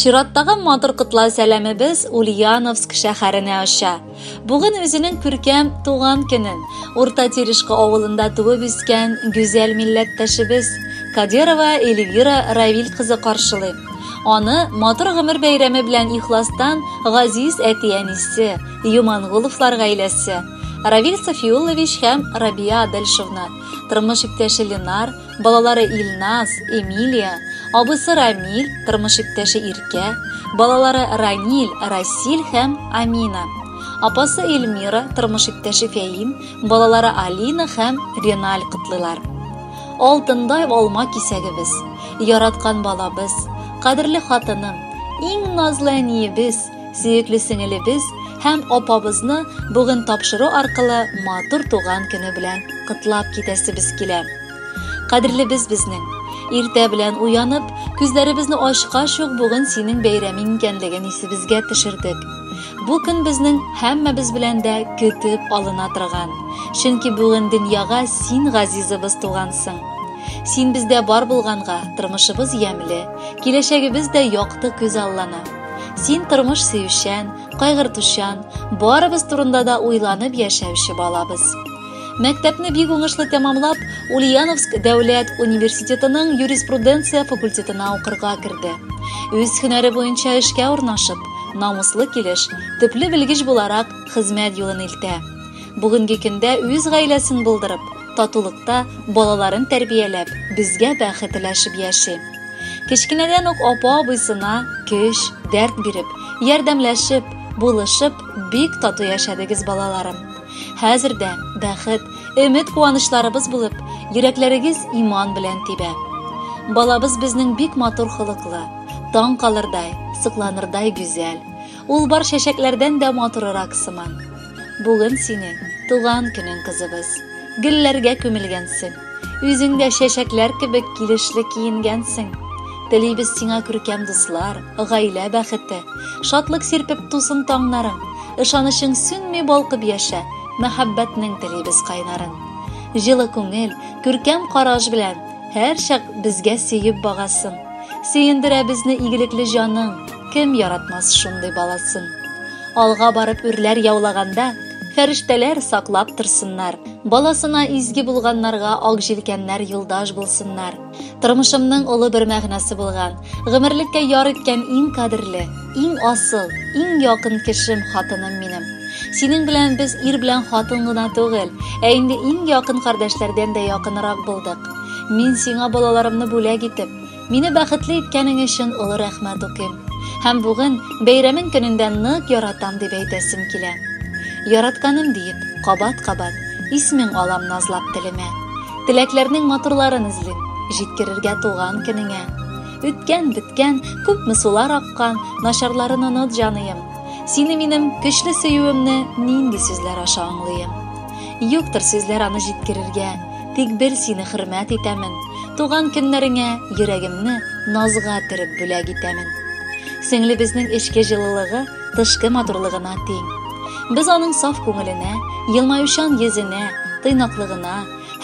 Чираттагы матур котлау сәламебез Ульяновск шәһәренә оча. Бүген үзенең күркәм туган көнен Урта Терешка авылында туып үскән гүзәл милләттәшебез Кадирова Эльвира Равиль кызы каршылый. Аны матур гомер бәйрәме белән ихластан газиз әти-әнисе, Юмангуловлар гаиләсе, Равиль Софиуллович һәм Рабия Адельшовна тормыш иптәше Ленар, балалары Илназ, Эмилия, абысы Рамиль, тормыш иптәше Иркә, балалары Раниль, Расиль һәм Амина. Апасы Эльмира, тормыш иптәше Фәим, балалары Алина һәм Реналь котлыйлар. Алтындай алма кисәгебез, яраткан балабыз, кадерле хатыным, иң назлы әниебез, Сөекле сеңелебез һәм апабызны бүген тапшыру аркылы матур туган көне белән котлап китәсебез килә. Кадерлебез безнең, иртә белән уянып, күзләребезне ачкач ук бүген синең бәйрәмең икәнлеген исебезгә төшердек. Бу көн безнең һәммәбез белән дә көтеп алына торган, чөнки бүген дөньяга син газизыбыз тугансың. Син бездә бар булганга, тормышыбыз ямьле, киләчәгебез дә якты күзаллана. Син тормыш сөючән, кайгыртучан, барыбыз турында да уйланып яшәүче балабыз. Мәктәпне бик уңышлы тәмамлап, Ульяновск дәүләт университетының юриспруденция факультетына укырга керде. Үз һөнәре буенча эшкә урнашып, намуслы килеш, төпле белгеч буларак хезмәт юлын илтә. Бүгенге көндә үз гаиләсен булдырып, татулыкта балаларын тәрбияләп, безгә бәхет теләшеп яши. Кечкенәдән үк апа-абыйсына көч, дәрт биреп, ярдәмләшеп, булышып, бик тату яшәдегез балаларым. Хәзер дә бәхет, өмет куанычларыбыз булып, йөрәкләрегез иман белән тибә. Балабыз безнең бик матур холыклы, таң калырдай, сокланырдай гүзәл. Ул бар чәчәкләрдән дә матурырак сыман. Бүген сине туган көнең кызыбыз. Гөлләргә күмелгәнсең. Үзеңдә чәчәкләр кебек килешле киенгәнсең. Телибез сиңа күркәм дуслар, гаилә бәхете, шатлык сирпеп тусын таңнарың, ышанычың сүнми балкып яшә, мәхәббәтнең телибез кайнарын. Җылы күңел, күркәм караш белән һәрчак безгә сөеп багасың. Сөендерә безне игелекле җаның. Кем яратмас шундый баласын? Алга барып үрләр яулаганда, фәрештәләр саклап торсыннар. Баласына изге булганнарга ак җилкәннәр юлдаш булсыннар. Тормышымның олы бер мәгънәсе булган, гомерлеккә яр иткән иң кадерле, иң асыл, иң якын кешем хатыным минем. Синең белән без ир белән хатын гына түгел, ә инде иң якын кардәшләрдән дә якынрак булдык. Мин сиңа балаларымны бүләк итеп, Мине бәхетле иткәнең өчен олы рәхмәт укыйм. Һәм бүген бәйрәмең көнендә нык яратам дип әйтәсем килә. Яратканым диеп, кабат-кабат исмең алам назлап телемә. Теләкләрнең матурларын эзлим, җиткерергә туган көнеңә. Үткән, беткән, күпме сулар аккан, начарларын оныт, җаныем. Сине минем көчле сөюемне нинди сүзләр аша аңлыйм? Юктыр сүзләр аны җиткерергә. Тик бер сине хөрмәт итәмен, Туган көннәреңә йөрәгемне назга төреп бүләк итәмен. Сеңлебезнең эчке җылылыгы тышкы матурлыгына тиң. Без аның саф күңеленә, елмаючан йөзенә, тыйнаклыгына,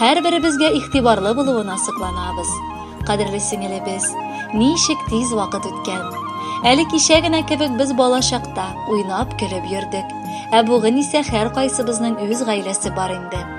һәрберебезгә игътибарлы булуына сокланабыз. Кадерле сеңелебез, ничек тиз вакыт үткән! Әле кичә генә кебек без бала чакта уйнап-көлеп йөрдек, ә бүген исә һәркайсыбызның үз гаиләсе бар инде.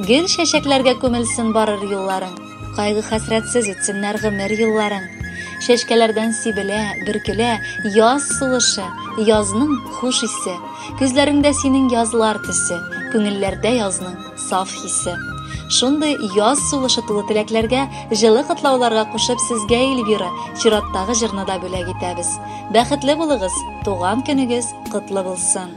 Гел чәчәкләргә күмелсен барыр юлларың, Кайгы хәсрәтсез үтсеннәр гомер елларың. Чәчкәләрдән сибелә, бөркелә яз сулышы, Язның хуш исе. Күзләреңдә синең язлар төсе, Күңелләрдә язның саф хисе. Шундый яз сулышы тулы теләкләргә, җылы котлауларга кушып сезгә Эльвира чираттагы җырны да бүләк итәбез. Бәхетле булыгыз, туган көнегез котлы булсын!